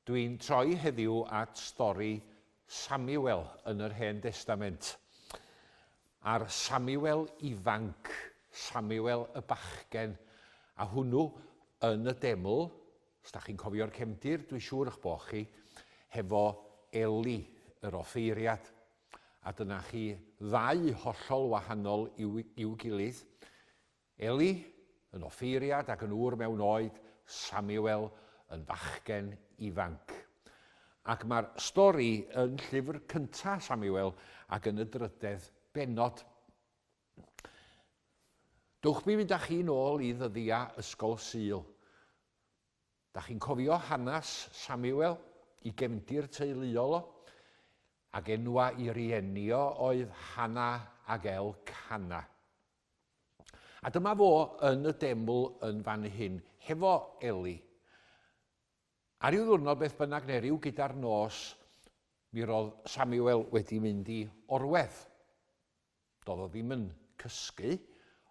Dwi'n troi heddiw at stori Samuel yn yr Hen Destament. A'r Samuel ifanc, Samuel y bachgen, a hwnnw yn y deml, os da chi'n cofio'r cefndir, dwi'n siŵr eich bod chi, hefo Eli, yr offeiriad. A dyna chi ddau hollol wahanol i'w, i'w gilydd. Eli, yn offeiriad ac yn ŵr mewn oed, Samuel, yn fachgen ifanc. Ac mae'r stori yn llyfr cyntaf Samuel ac yn y drydedd bennod. Dwch mi fynd â chi nôl i ddyddiau Ysgol Sul. Da chi'n cofio hanes Samuel, i gefndir teuluol o, ac enwa i rieni o oedd Hana ac El Cana. A dyma fo yn y deml yn fan hyn, hefo Eli. A ryw ddwrnod beth bynnag neu ryw gyda'r nos, mi roedd Samuel wedi mynd i orwedd. Doedd o ddim yn cysgu,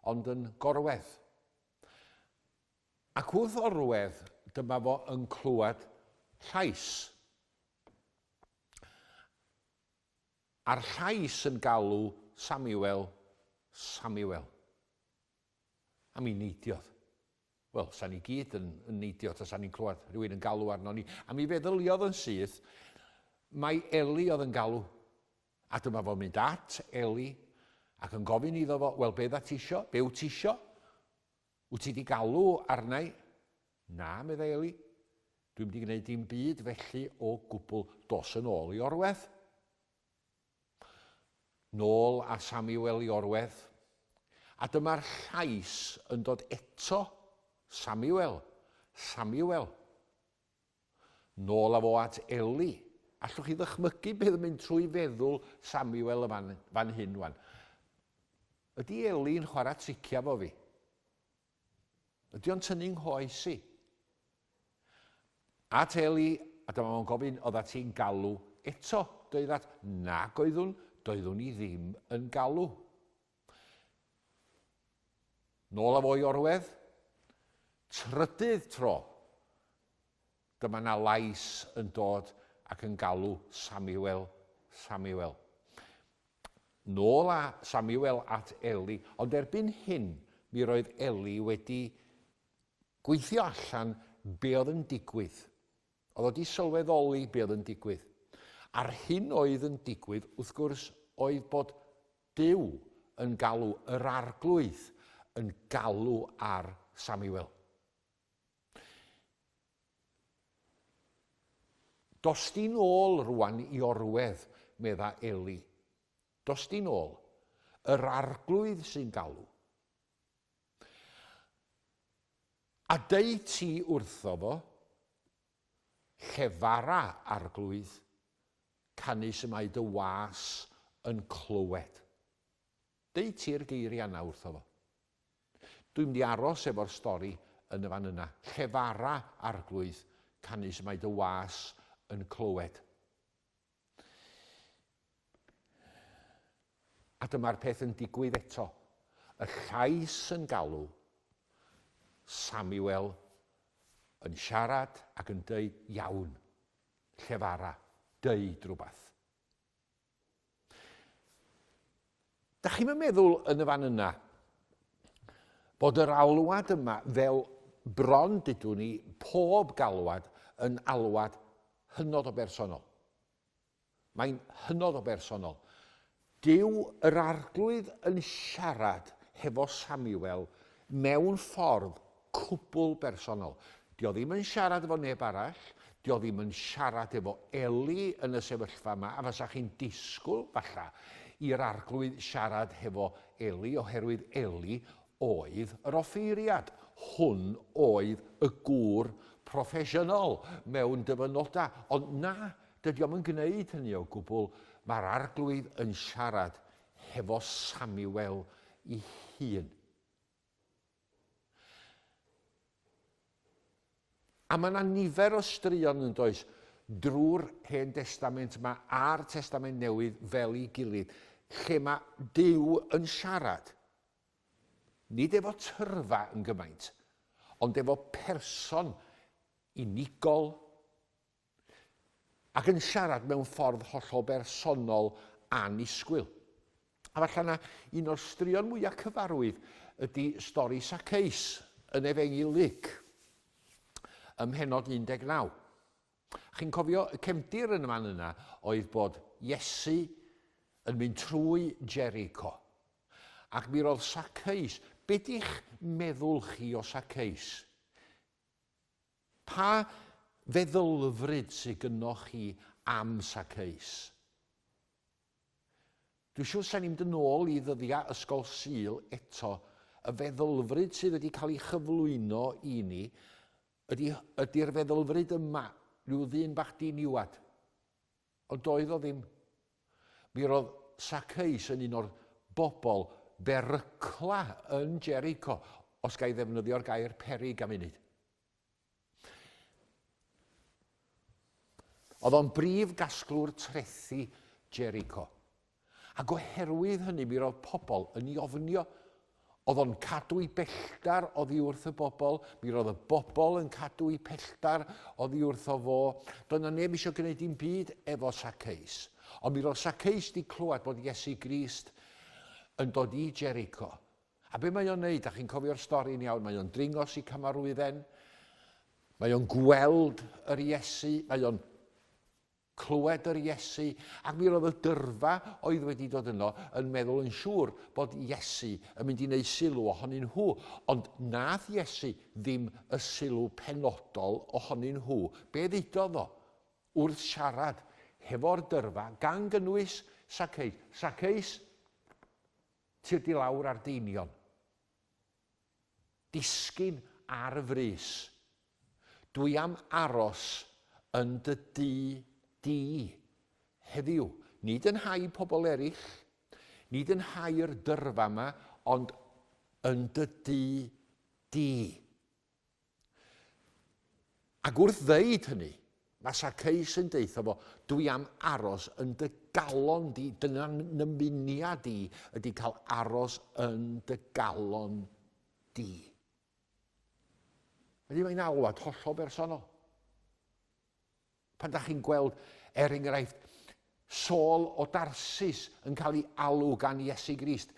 ond yn gorwedd. Ac wrth orwedd, dyma fo yn clywed llais. A'r llais yn galw, Samuel, Samuel. A mi neidiodd. Wel, sa'n ni gyd yn, yn neidio ta sa'n ni'n clywed rhywun yn galw arno ni. A mi feddyliodd yn syth, mae Eli oedd yn galw. A dyma fo'n mynd at Eli ac yn gofyn iddo fo, wel, be dda tisio? Be wyt tisio? Wyt ti 'di galw arna i? Na, meddai Eli. Dwi'm 'di gwneud dim byd felly o gwbl. Dos yn ôl i orwedd. Nôl â Samuel i orwedd. A dyma'r llais yn dod eto, Samuel, Samuel. Nôl â fo at Ellie. Allwch chi ddychmygu beth yn mynd trwy feddwl Samuel yn fan hyn 'wan? Ydy Ellie yn chwarae tricia 'fo fi? Ydy o'n tynnu nghoes i? At Ellie, a dyma fo'n gofyn, oedda ti'n galw eto? Doeddat, nag oeddwn, doeddwn i ddim yn galw. Nôl â fo i orwedd. Trydydd tro, dyma 'na lais yn dod ac yn galw, Samuel, Samuel. Nôl â Samuel at Eli, ond erbyn hyn mi roedd Eli wedi gweithio allan be oedd yn digwydd. Oedd o wedi sylweddoli be oedd yn digwydd. A'r hyn oedd yn digwydd, wrth gwrs, oedd bod Duw yn galw, yr Arglwydd yn galw ar Samuel. Dos di'n ôl rwan i orwedd, medda Eli. Dos di'n ôl. Yr arglwydd sy'n galw. A deu ti wrtho fo, Llefara Arglwydd, canys y mae dy was yn clywed. Deu ti'r geiriau yna wrtho fo. Dwi'n mynd i aros efo'r stori yn y fan yna. Llefara Arglwydd, canys y mae dy was yn clywed. A dyma'r peth yn digwydd eto. Y llais yn galw. Samuel yn siarad ac yn deud, Iawn, llefara, deud rhywbeth. Dach chi'm yn meddwl yn y fan yna bod yr alwad yma, fel bron dydw ni, pob galwad yn alwad hynod o bersonol? Mae'n hynod o bersonol. Dyw yr Arglwydd yn siarad hefo Samuel mewn ffordd cwbl bersonol. Dio ddim yn siarad efo neb arall, dio ddim yn siarad efo Eli yn y sefyllfa yma, a fasa chi'n disgwyl, falla, i'r Arglwydd siarad hefo Eli, oherwydd Eli oedd yr offeiriad. Hwn oedd y gŵr proffesiynol mewn dyfynodau. Ond na, dydi o'm yn gwneud hynny o gwbl, mae'r Arglwydd yn siarad hefo Samuel i hun. A mae 'na nifer o straeon, yn does, drwy'r Hen Destament 'ma a'r Testament Newydd fel ei gilydd, lle mae Duw yn siarad, nid efo tyrfa yn gymaint, ond efo person unigol, ac yn siarad mewn ffordd hollol bersonol annisgwyl. A falle na un o'r straeon mwyaf cyfarwydd ydy stori Saceus yn Efengyl Luc, ym mhenod 19. Chi'n cofio y cefndir yn y man yna oedd bod Iesu yn mynd trwy Jericho. Ac mi roedd Saceus, be di'ch meddwl chi o Saceus? Pa feddylfryd sy gynnoch chi am Sakeus? Dwi'n siŵr sa'n i'n mynd yn ôl i ddyddiau Ysgol Sul eto. Y feddylfryd sydd wedi cael ei chyflwyno i ni ydy, ydy'r feddylfryd yma, rhyw ddyn bach diniwad. Ond doedd o ddim. Mi roedd Saceus yn un o'r bobl berycla yn Jericho, os ga i ddefnyddio'r gair peryg am unid. Oedd o'n brif gasglwr trethi Jericho. Ac oherwydd hynny mi roedd pobl yn ei ofnio. Oedd o'n cadw i belltar oddi wrth y bobl, mi roedd y bobl yn cadw i pelltar oddi wrtho fo. Doedd na neb eisiau gwneud dim byd efo Saceus. Ond mi roedd Saceus di clywed bod Iesu Grist yn dod i Jericho. A be mae o'n neud? A chi'n cofio'r stori'n iawn, mae o'n dringo si camarwydden, mae o'n gweld yr Iesu, mae o'n Clywed yr Iesu, ac mi roedd y dyrfa oedd wedi dod yno yn meddwl yn siŵr bod Iesu yn mynd i wneud sylw ohonyn nhw, ond nath Iesu ddim y sylw penodol ohonyn nhw. Be ddudodd o? Wrth siarad hefo'r dyrfa, gan gynnwys Saceus, Saceus, tir di lawr ar deinion. Disgyn ar y frys. Dwi am aros yn dy dŷ di heddiw. Nid yn nhai pobl eraill, nid yn nhai'r dyrfa 'ma, ond yn dy dŷ di. Ac wrth ddeud hynny, mae Saceus yn deutho fo, Dwi am aros yn dy galon di, dyna nymuniad i, ydy cael aros yn dy galon di. Felly mae'n alwad hollol bersonol. Pan dach chi'n gweld, er enghraifft, Saul o Darsus yn cael ei alw gan Iesu Grist,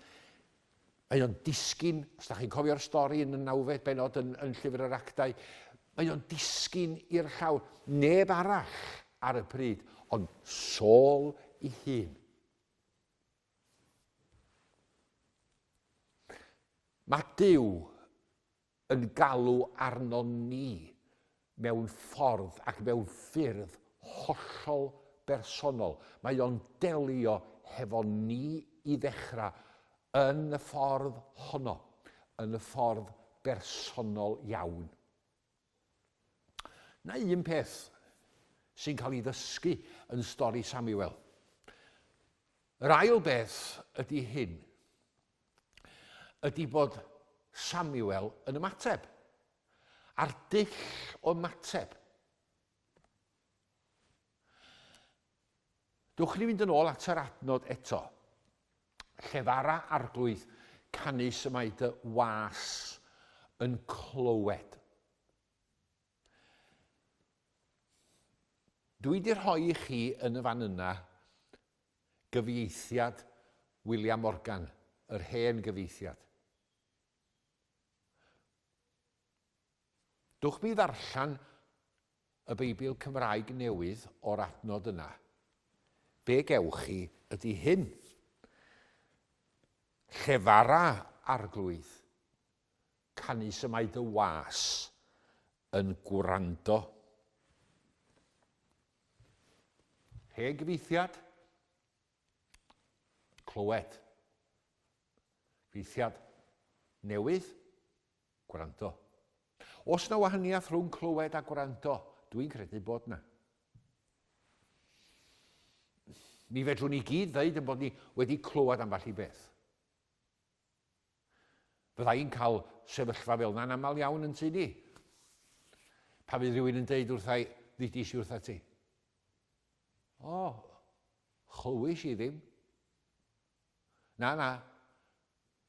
mae o'n disgyn, os da chi'n cofio'r stori yn y nawfed benod yn, yn Llyfr yr Actau, mae o'n disgyn i'r llawr. Neb arall ar y pryd, ond Saul i hun. Mae Dyw yn galw arnon ni mewn ffordd ac mewn ffyrdd hollol bersonol. Mae o'n delio hefo ni i ddechrau yn y ffordd honno, yn y ffordd bersonol iawn. Na un peth sy'n cael ei ddysgu yn stori Samuel. Yr ail beth ydy hyn. ydy bod Samuel yn ymateb, a'r dull o ymateb. Dwch ni fynd yn ôl at yr adnod eto. Llefara arglwydd canus y mae dy was yn clywed. Dwi di rhoi i chi yn y fan yna gyfieithiad William Morgan, yr hen gyfieithiad. Dwch mi ddarllen y Beibl Cymraeg newydd o'r adnod yna. Be gewch chi ydy hyn. Llefara Arglwydd, Canys y mae dy was yn gwrando. Hen gyfeithiad. Clywed. Gyfeithiad newydd. Gwrando. Os na wahaniaeth rhwng clywed a gwrando, dwi'n credu bod na. Mi fedrwn ni gyd ddeud yn bod ni wedi clywed ambell i beth. Fydda i'n cael sefyllfa fel yna'n aml iawn yn tŷ ni. Pa fydd rhywun yn deud wrtha i, ddidis i wrtha ti. O, chlywys i ddim. Na, na.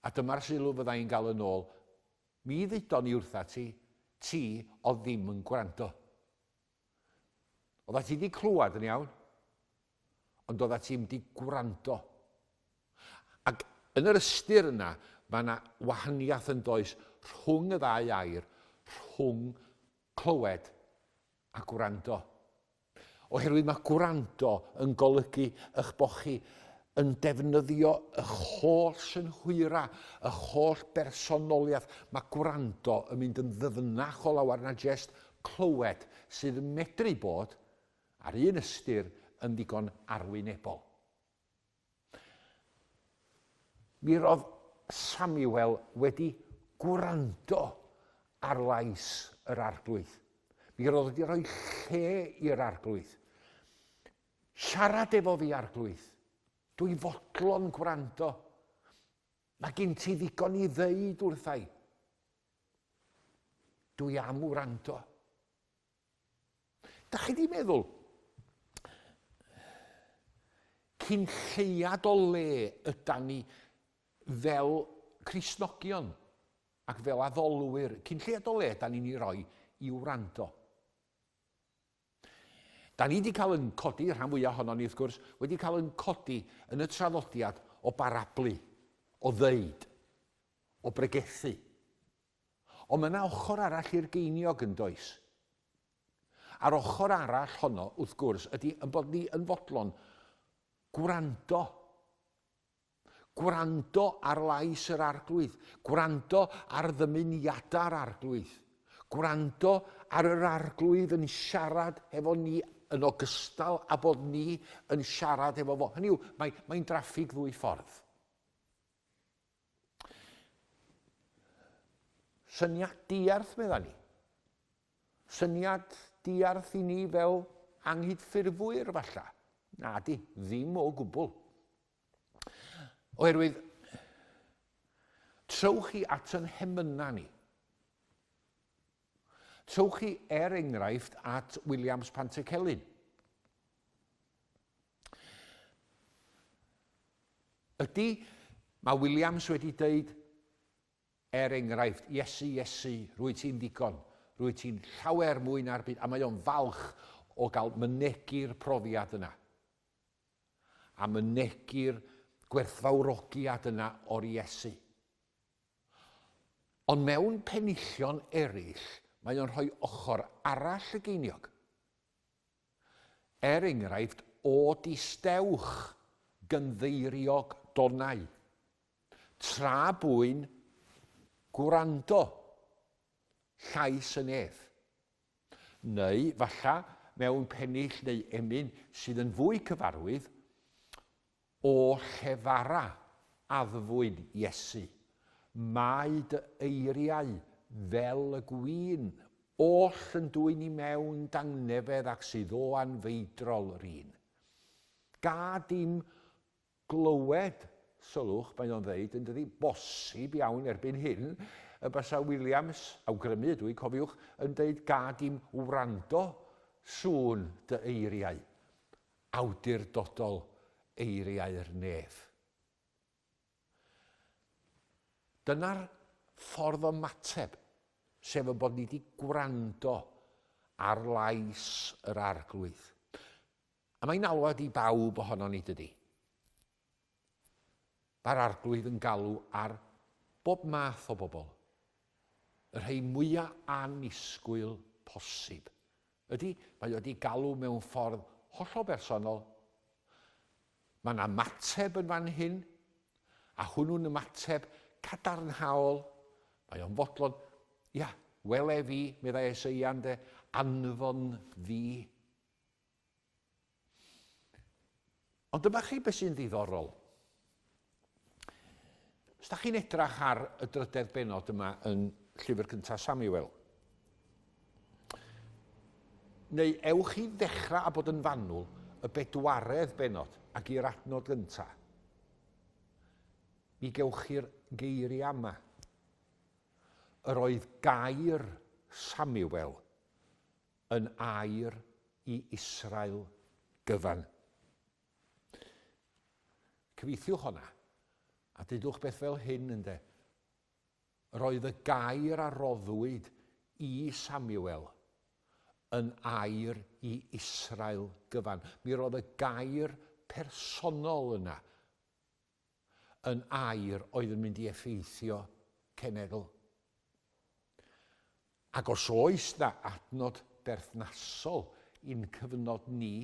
A dyma'r sylw fydda i'n gael yn ôl. Mi ddudon i wrtha ti, ti o ddim yn gwrando. Oedda ti di clywed yn iawn, ond oedda ti wedi gwrando. Ac yn yr ystyr yna, mae yna wahaniaeth yn does rhwng y ddau air, rhwng clywed a gwrando. Oherwydd mae gwrando yn golygu eich bod chi yn defnyddio eich holl synhwyra, eich holl bersonoliaeth. Mae gwrando yn mynd yn ddyfnach o lawer na jest clywed sydd yn medru bod, ar un ystyr, yn ddigon arwynebol. Mi roedd Samuel wedi gwrando ar lais yr arglwydd. Mi roedd wedi rhoi lle i'r arglwydd. Siarad efo fi, arglwydd. Dwi fodlon gwrando. Mae gen ti ddigon i ddeud wrthai. Dwi am wrando. Da chi di meddwl, cyn lleiad o le ydan ni fel Crisnogion ac fel addolwyr, cyn lleiad o le ydan ni'n ei roi i wrando. Da ni 'di cael yn codi, y rhan fwyaf ohonon ni wrth gwrs, wedi cael yn codi yn y traddodiad o barablu, o ddeud, o bregethu. Ond mae yna ochr arall i'r geiniog yn does? A'r ochr arall honno, wrth gwrs, ydy yn bod ni yn fodlon gwrando Gwrando ar lais yr Arglwydd, gwrando ar ddymuniadau'r Arglwydd, gwrando ar yr Arglwydd yn siarad hefo ni yn ogystal â bod ni yn siarad hefo fo. Hynny yw, mae, mae'n draffig ddwy ffordd. Syniad diarth, medda ni. Syniad diarth i ni fel anghydffurfwyr, falla. Na di, ddim o gwbl. Oherwydd, trowch chi at yn hemynau ni. Trowch chi, er enghraifft, at Williams Pantycelyn. Ydy, mae Williams wedi dweud, er enghraifft, Iesu, Iesu, rwy ti'n ddigon, rwy ti'n llawer mwy na'r byd, a mae o'n falch o gael mynegi'r profiad yna. a mynegi'r gwerthfawrogiad yna o'r Iesu. Ond mewn penillion eraill, mae o'n rhoi ochr arall y geiniog. Er enghraifft, o distewch gynddeiriog donau, tra bwyn gwrando llais y nef. Neu, falla, mewn pennill neu emyn sydd yn fwy cyfarwydd, O llefara, addfwyn Iesu, mae dy eiriau fel y gwin oll yn dwyn i mewn dangnefedd ac sydd o anfeidrol yr un. Gad i'm Glywed, sylwch, mae o'n ddeud, yndydi, bosib iawn erbyn hyn y basa Williams, awgrymu ydw i, cofiwch, yn deud gad i'm wrando, sŵn dy eiriau. Awdurdodol, eiriau'r nef. Dyna'r ffordd o ymateb, sef y bod ni wedi gwrando ar lais yr Arglwydd. A mae'n alwad i bawb ohonon ni, dydy? Mae'r Arglwydd yn galw ar bob math o bobl. Y rhai mwya annisgwyl posib. Ydy, mae o wedi galw mewn ffordd hollol bersonol. Mae yna ymateb yn fan hyn, a hwnnw'n ymateb cadarnhaol. Mae o'n fodlon, ia, wele fi, meddai Eseia, ynde, anfon fi. Ond dyma chi beth sy'n ddiddorol. Os da chi'n edrach ar y drydedd benod yma yn llyfr cyntaf Samuel, neu ewch i ddechrau a bod yn fanwl y bedwaredd benod ac i'r adnod gyntaf, mi gewch chi'r geiriau yma. Yr oedd gair Samuel yn air i Israel gyfan. Cyfeithiwch honna, a dydwch beth fel hyn, ynde. Yr oedd y gair a roddwyd i Samuel yn air i Israel gyfan. Mi roedd y gair personol yna yn air oedd yn mynd i effeithio cenedl. Ac os oes na adnod berthnasol i'n cyfnod ni,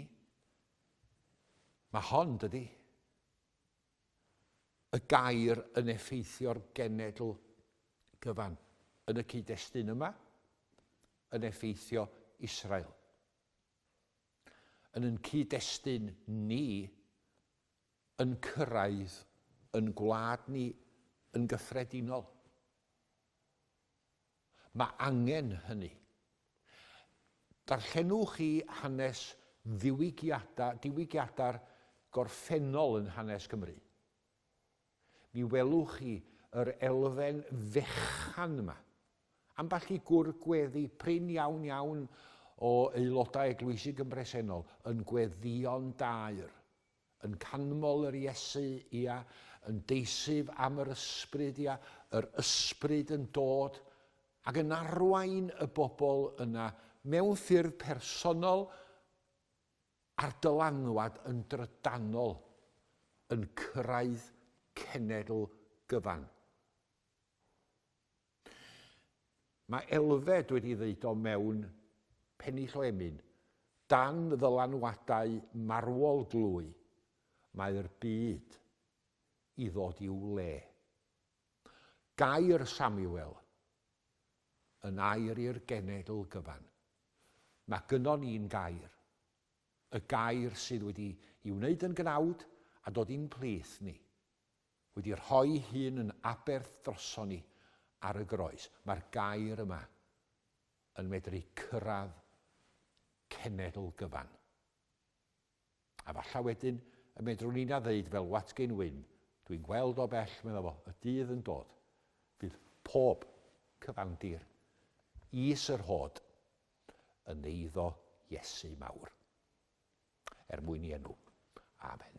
mae hon, dydy, y gair yn effeithio'r genedl gyfan yn y cyd-destun yma, yn effeithio Israel. Yn yn cyd-destun ni, yn cyrraedd yn gwlad ni yn gyffredinol. Mae angen hynny. Darllenwch chi hanes ddiwygiadau, diwygiadau'r gorffennol yn hanes Cymru. Mi welwch chi yr elfen fechan yma. Ambell i gwr gweddi prin iawn iawn o aelodau eglwysig yn bresennol yn gweddïo'n daer. yn canmol yr Iesu, ia, yn deisyf am yr Ysbryd, ia, yr Ysbryd yn dod ac yn arwain y bobl yna mewn ffyrdd personol a'r dylanwad yn drydanol yn cyrraedd cenedl gyfan. Mae Elfed wedi ddeud o mewn pennill o emyn, dan ddylanwadau marwol glwy, mae'r byd i ddod i'w le. Gair Samuel yn air i'r genedl gyfan. Mae gynnon ni'n gair. Y gair sydd wedi i wneud yn gnawd a dod i'n plith ni. Wedi rhoi'i hun yn aberth droson ni ar y groes. Mae'r gair yma yn medru cyrraedd cenedl gyfan. A falla wedyn y medrwn ni na ddeud fel Watgyn Wyn, dwi'n gweld o bell, medda fo, y dydd yn dod, fydd pob cyfandir is yr hod yn eiddo Iesu mawr. Er mwyn i enw. Amen.